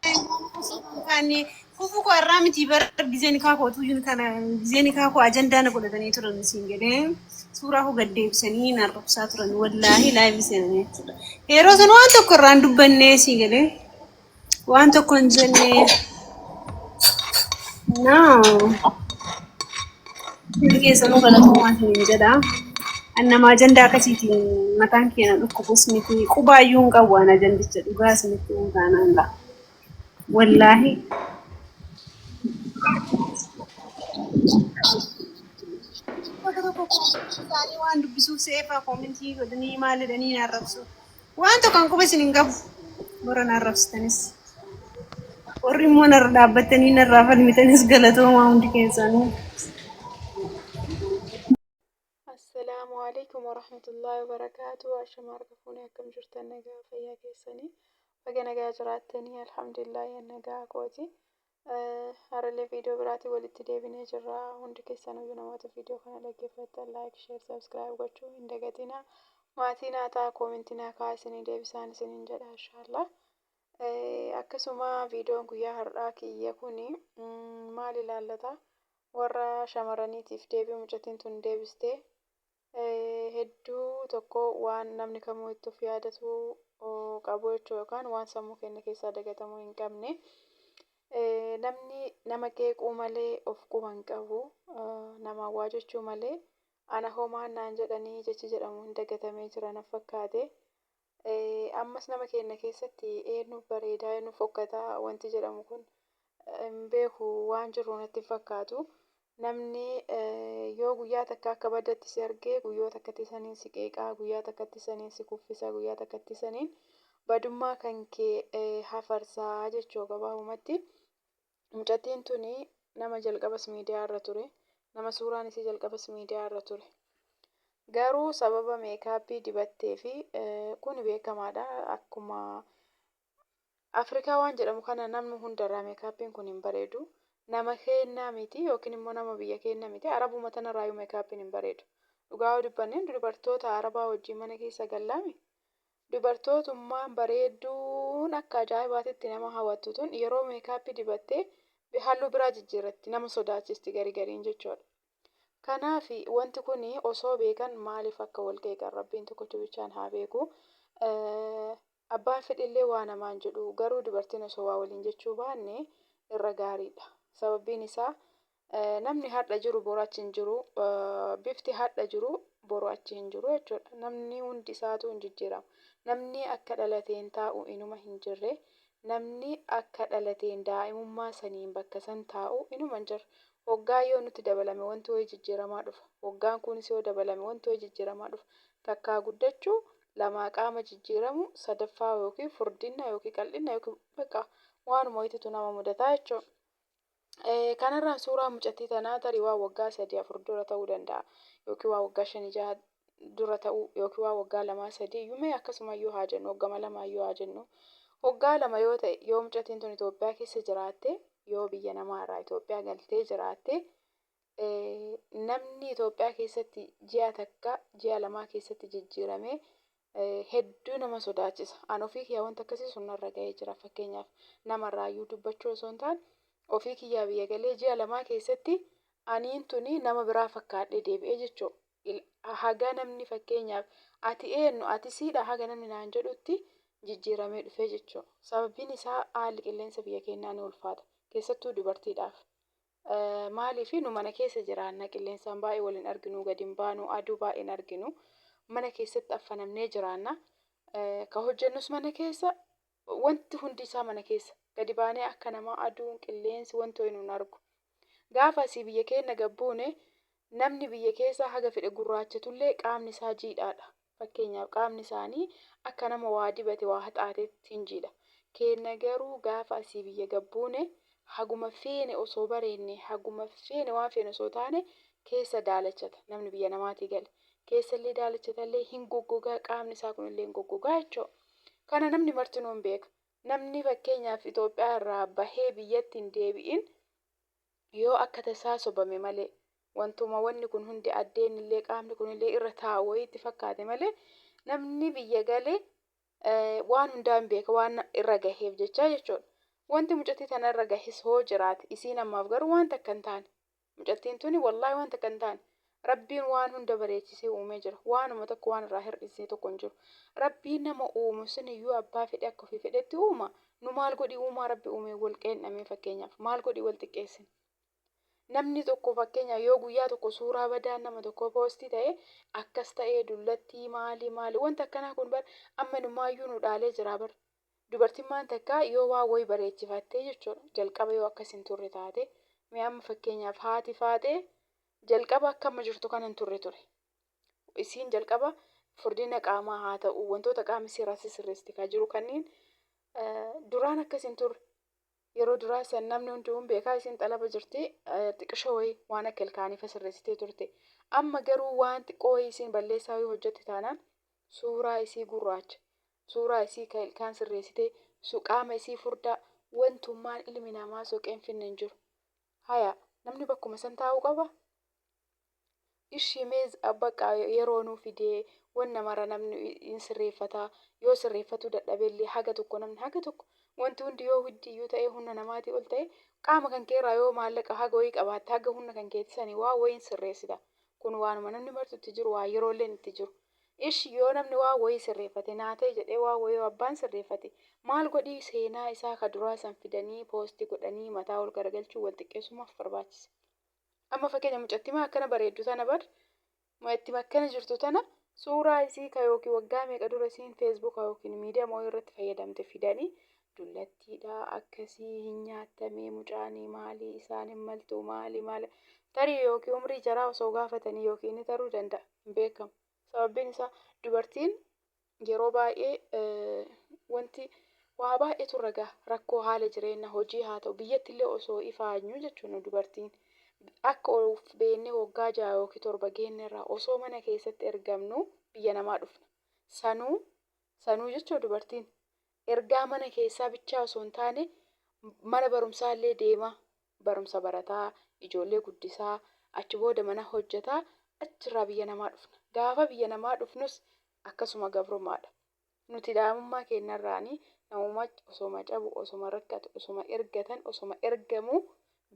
Kan kufu koo irraa miti bara gizee nikaa koo tuyyuun kana gizee nikaa koo ajandaa na godhatanii turan siin jedhee suuraa koo gad deebisanii na arrabsaa turan wallaahi laayivii seenanii jechuudha. Yeroo sana waan tokko irraa hin dubbannee siin jedhee waan tokko hin jennee. No. Hundi keessanuu galatoomaa isiniin jedha. An nama ajandaa akkasiitiin mataan keenya dhukkubus miti qubaayyuu hin qabu an ajandicha dhugaa isinitti hin taanaan dha. Wallaahi tokko tokko isaanii waan dubbisuuf seefa koomintii godhanii maal jedhanii na arrabsu. Waan tokko kan quba isin hin qabu. Warra na arrabsitanis. Warri immoo narra dhaabbattanii narraa falmitanis galatoomaa hundi keessanuu. Assalaamu alaikum warahmatullahi wabarakaatu. Ashama harka fuunee akkam jirtan nagaa fayyaa keessanii. Baga nagaa jiraattanii alhamdulillahi nagaa kooti. Har'allee viidiyoo biraatiin walitti deebinee jirra. Hundi keessanuu namoota viidiyoo kana dhaggeeffattan like, share, subscribe gochuu hin dagatina. Maatii naa ta'a koomentii naa kaa'aa isinii deebisaan isiniin jedha inshaallaa. Akkasuma viidiyoon guyyaa har'aa kiyya kun maal ilaallata? Warra shamarraniitiif deebii mucattiin tun deebistee hedduu tokko waan namni kamuu itti of yaadatu qabu jechuudha yookaan waan sammuu keenya keessaa dagatamuu hin qabne. Namni nama qeequu malee of quba hin qabu. Namaan waa jechuu malee ana hoo maal naan jedhanii jechi jedhamu hin dagatamee jira na fakkaate. Ammas nama keenna keessatti eennuuf bareedaa eennuuf fokkataa wanti jedhamu kun hin beeku waan jirru natti hin fakkaatu. Namni yoo guyyaa takka akka baddatti si argee guyyoota akkatti saniin si qeeqaa guyyaa takkatti saniin si kuffisa guyyaa takkatti saniin badummaa kan kee hafarsaa jechuu gabaabumatti. Mucattiin tuni nama jalqabas miidiyaa irra ture, nama suuraan isii jalqabas miidiyaa irra ture. Garuu sababa meekaappii dibatteefi kuni beekamaadha akkuma Afrikaa waan jedhamu kana namni hundarraa meekaappiin kun hin bareedu. Nama keennaa miti yookiin immoo nama biyya keenna miti arabuma tanarraayyuu meekaappiin hin bareedu. Dhugaa yoo dubbanne dubartoota arabaa wajjin mana keessa gallaami Dubartootummaan bareedduun akka ajaa'ibaatti itti nama hawattu tun yeroo meekaappii dibatte halluu biraa jijjiirratti nama sodaachisti gari gariin jechuudha. Kanaaf wanti kun osoo beekan maaliif akka wal qeeqan rabbiin tokkocha bichaan haa beeku. Abbaan fedhillee waa namaan jedhu garuu dubartiin osoo waa waliin jechuu baanne irra gaariidha. Sababbiin isaa Namni har'a jiru boru achi hin jiru. Bifti har'a jiru boru achi hin jiru jechuudha. Namni hundi isaatuu hin jijjiirama. Namni akka dhalateen taa'u inuma hin jirre. Namni akka dhalateen daa'imummaa saniin bakka san taa'u inuma hin jirre. Hoggaa yoo nutti dabalame wanti wayii jijjiiramaa dhufa. Hoggaan kunis yoo dabalame wanti wayii jijjiiramaa dhufa. Takkaa guddachuu, lamaa qaama jijjiiramuu, sadaffaa yookiin furdinna yookiin qal'inna yookiin bakka waanuma wayitutu nama mudataa jechuudha. Kanarraa suuraa mucattii tanaa tarii waan waggaa sadii afur dura ta'uu danda'a yookiin waan waggaa shanii jaha dura ta'uu yookiin waan waggaa lamaa sadii yuumee akkasuma yoo haa jennu hoggama lamaa yoo haa jennu hoggaa lama yoo ta'e yoo mucattiin tun Itoophiyaa keessa jiraatte yoo biyya namaa irraa Itoophiyaa galtee jiraatte Namni Itoophiyaa keessatti ji'a takka ji'a lamaa keessatti jijjiirame hedduu nama sodaachisa. An ofii kiyyaa wanta akkasii sun narra ga'ee jira fakkeenyaaf namarraayyuu dubbachuu osoo hin taane ofii kiyyaa biyya galee ji'a lamaa keessatti aniin tuni nama biraa fakkaadhee deebi'ee jechuudha. Haga namni fakkeenyaaf ati eenyu ati siidha haga namni naan jedhutti jijjiiramee dhufee jechuudha. Sababiin isaa haalli qilleensa biyya keenyaa ni ulfaata keessattuu dubartiidhaaf. Maaliif nu mana keessa jiraanna qilleensaan baay'ee wal hin arginuu gad hin baanuu aduu baay'ee hin arginuu mana keessatti affanamnee jiraanna ka hojjennus mana keessa wanti hundi isaa mana keessa gadi baanee akka namaa aduun qilleensi wanti ho'i nun argu gaafa asii biyya keenna gad buune Namni biyya keessaa haga fedhe gurraachatullee qaamni isaa jiidhaadha. Fakkeenyaaf qaamni isaanii akka nama waa dibate waa haxaateetti hin jiidha. Keenna garuu gaafa asii biyya gad buune haguma feene osoo bareenne, haguma feene waan feene osoo taane keessa daalachata namni biyya namaatii gale. Keessallee daalachatallee hin goggogaa qaamni isaa kunillee hin goggogaa jechuudha. Kana namni martinuu hin beeka. Namni fakkeenyaaf Itoophiyaa irraa bahee biyyatti hin deebi'in Yoo akka tasaa sobame malee, wantuma wanni kun hundi addeenillee qaamni kunillee irra taa'u wayii itti fakkaate malee, namni biyya gale waan hundaa hin beeka waan irra gaheef jechaa jechuudha. Wanti mucattii tana irra gahes hoo jiraate isiin ammaaf garuu waan takka hin taane. Mucattiin tuni wallaahi waan takka hin taane. Rabbiin waan hunda bareechisee uumee jira. Waanuma tokko waan irraa hir'isee tokko hin jiru. Rabbiin nama uumu siniyyuu abbaa fedhe akka ofii fedhetti uuma. Nu maal godhi uumaa Rabbi uumee wal qeendhamee fakkeenyaaf maal godhi wal xiqqeessina. Namni tokko fakkeenyaaf yoo guyyaa tokko suuraa badaan nama tokkoo poostii ta'e akkas ta'ee dullattii maali maali wanti akkanaa kun bar amma numaayyuu nu dhaalee jira bar. Dubartimmaan takka yoo waa wayi bareechifattee jechuudha jalqaba yoo akkas hin turre taate mee amma fakkeenyaaf haati faaxee Jalqaba akka amma jirtu kana hin turre ture. Isiin jalqaba furdina qaamaa haa ta'u, wantoota qaama isii irraa sisirreessite kaa jiru kanniin duraan akkas hin turre. Yeroo duraa san namni hunduu hin beekaa isiin xalaba jirti xiqishoo wayii waan akka ilkaanii fa sirreessitee turte. Amma garuu waan xiqqoo wayii isiin balleessaa wayii hojjette taanaan suuraa isii gurraacha, suuraa isii ka ilkaan sirreessitee, qaama isii furdaa wantummaan ilmi namaa soqee hin finne hin jiru. Haya namni bakkuma san taa'uu qaba? Ishi mee bakka yeroo nuu fidee wanna mara namni hin sirreeffata yoo sirreeffatuu dadhabe illee haga tokko namni haga tokko wanti hundi yoo hiddi iyyuu ta'ee humna namaatii ol ta'e qaama kan kee irraa yoo maallaqa haga wayii qabaatte haga humna kan keeti sanii waa wayiin sirreessita kun waanuma namni martu itti jiru waa yeroo illeen itti jiru Ishi yoo namni waan woyii sirreeffate naa ta'e jedhee waan woyii yoo abbaan sirreeffate maal godhii seenaa isaa ka duraa san fidanii post godhanii mataa wol garagalchuun wol xiqqeessuun maaf barbaachise? Amma fakkeenya mucattima akkana bareeddu tana bar mucattima akkana jirtu tana suuraa isii ka yookiin waggaa meeqa dura isiin facebook yookiin miidiyaa mooyii irratti fayyadamte fidanii dullattiidha akkasii hin nyaattamee mucaanii maalii isaan hin maltuu maali maali tarii yookiin umrii jaraa osoo gaafatanii yookiin inni taruu danda'a. hin beekamu. Sababbiin isaa dubartiin yeroo baay'ee wanti waa baay'eetu irra gaha. Rakkoo haala jireenna hojii haa ta'u biyyatti illee osoo ifaanyuu jechuun nu dubartiin akka of beennee waggaa 6 yookiin 7 geenne irraa osoo mana keessatti ergamnuu biyya namaa dhufna. Sanuu sanuu jechuun dubartiin Ergaa mana keessaa bichaa osoo hin taane mana barumsaa illee deemaa barumsa barataa, ijoollee guddisaa, achi booda mana hojjetaa achi irraa biyya namaa dhufna. Gaafa biyya namaa dhufnus akkasuma gabrumaa dha. Nuti daa'imummaa keenna irraanii namuma osoma cabu, osoma rakkatu, osoma ergatan, osoma ergamuu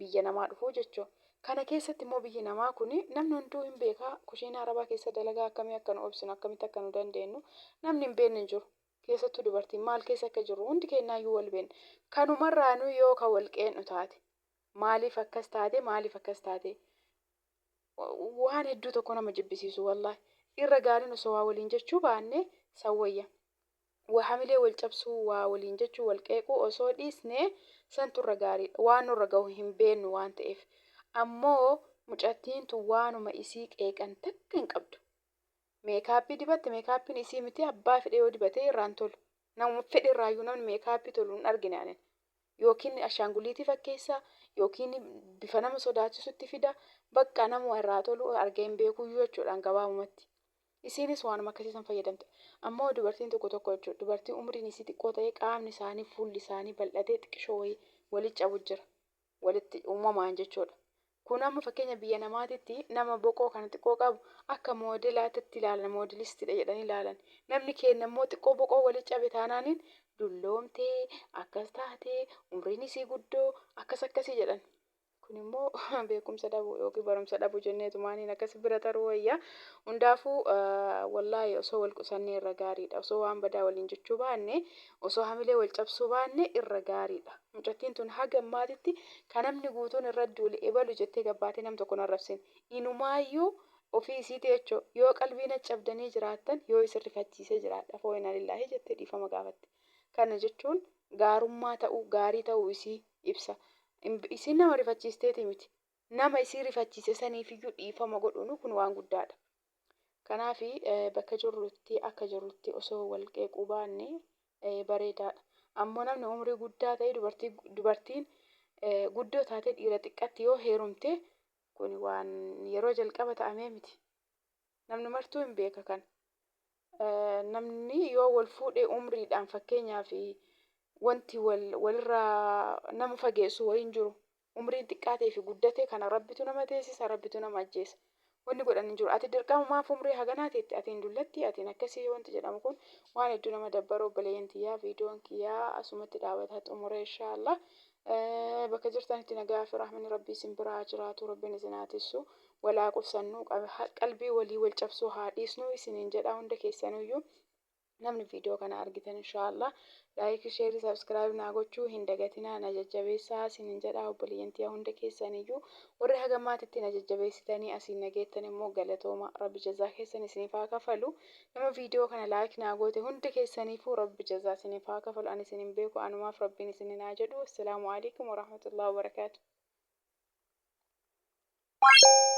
biyya namaa dhufuu jechuun. Kana keessatti immoo biyyi namaa kun namni hunduu hin beekaa kushiinaa arabaa keessa dalagaa akkamii akka nu obsinu akkamitti akka nu dandeennu namni hin beenne hin jiru. keessattuu dubartiin maal keessa akka jirru hundi keennaayyuu wal beenna. Kanumarraanuu yoo ka wal qee'nu taate maaliif akkas taate maaliif akkas taate waan hedduu tokko nama jibbisiisu wallaahi. Irra gaariin osoo waa waliin jechuu baanne san wayya. Waa hamilee wal cabsuu, waa waliin jechuu, wal qeequu osoo dhiisne santu irra gaariidha. Waan nurra gahu hin beennu waan ta'eef. Ammoo mucattiin tun waanuma isii qeeqan takka hin qabdu. meekaappii dibatte meekaappiin isii miti abbaa fedhe yoo dibatee irraa hin tolu namuma fedhe irraayyuu namni meekaappii tolu hin argine anin yookiin ashaanguliitii fakkeessa yookiin bifa nama sodaachisutti fida bakka namuma irraa tolu argee hin beekuyyuu jechuudhaan gabaabumatti isiinis waanuma akkasii san fayyadamte ammoo dubartiin tokko tokko jechuudha dubartii umriin isii xiqqoo ta'ee qaamni isaanii fuulli isaanii bal'atee xiqqishoo wayii wali cabu jira walitti uumamaan jechuudha. Kun amma fakkeenya biyya namaatitti nama boqoo kana xiqqoo qabu akka moodelaatitti ilaalan moodelistiidha jedhanii ilaalan. Namni keenya immoo xiqqoo boqoo wali cabe taanaaniin dulloomtee akkas taatee umriin isii guddoo akkas akkasii jedhan. Kun immoo beekumsa dhabu yookiin barumsa dhabu jenneetu maaniin akkas bira taruu wayya. Hundaafuu wallaahi osoo wal qusannee irra gaariidha. Osoo waan badaa waliin jechuu baanne Osoo hamilee wal cabsuu baanne irra gaariidha. Mucattiin tun haga ammaatitti ka namni guutuun irra duule ebalu jettee gabbaatee nam tokko hin arrabsine. Inumaayyuu ofii isiiti jechoo yoo qalbii na cabdanii jiraattan yoo isin rifachiisee jiraadhe afoo inaa lillaahi jettee dhiifama gaafatte. Kana jechuun gaarummaa ta'uu gaarii ta'uu isii ibsa. Isiin nama rifachiisteetii miti. nama isii rifachiise saniifiyyuu dhiifama godhuun kun waan guddaadha. Kanaaf bakka jirrutti akka jirrutti osoo wal qeequu baanne bareedaadha. Ammoo namni umrii guddaa ta'e dubartiin guddoo taatee dhiira xiqqatti yoo heerumte kun waan yeroo jalqaba ta'amee miti. Namni martuu hin beeka kan. Namni yoo wal fuudhee umriidhaan fakkeenyaaf wanti walirraa nama fageessu wayiin jiru Umriin xiqqaatee fi guddate kana Rabbitu nama teessisa, Rabbitu nama ajjeesa. Wanni godhan hin jiru. Ati dirqama maaf umrii haganaa teette, atiin dullatti, atiin akkasii wanti jedhamu kun waan hedduu nama dabbaru obboleeyyan tiyyaa viidiyoon kiyyaa asumatti dhaabata xumure inshaa Allah. Bakka jirtanitti nagaa fi rahmani Rabbii isin bira haa jiraatu, Rabbiin isin haa tissu. Wal haa qusannuu, qalbii walii wal cabsuu haa dhiisnuu isiniin jedha hunda keessanuyyuu. Namni viidiyoo kana argitan inshaallah laayikii sheerii sabskiraayib naa gochuu hin dagatinaa na jajjabeessaa sinin jedha obboleeyyan tiya hunda keessaniyyuu warri haga maatitti na jajjabeessitanii asiin na geettan immoo galatooma rabbi jazaa keessan isiniif haa kafalu nama viidiyoo kana laayik naa goote hunda keessaniifuu rabbi jazaa isiniif haa kafalu ani isin hin beeku anumaaf rabbiin isinin haa jedhu assalaamu alaikum warahmatullahi wabarakaatu Thank you.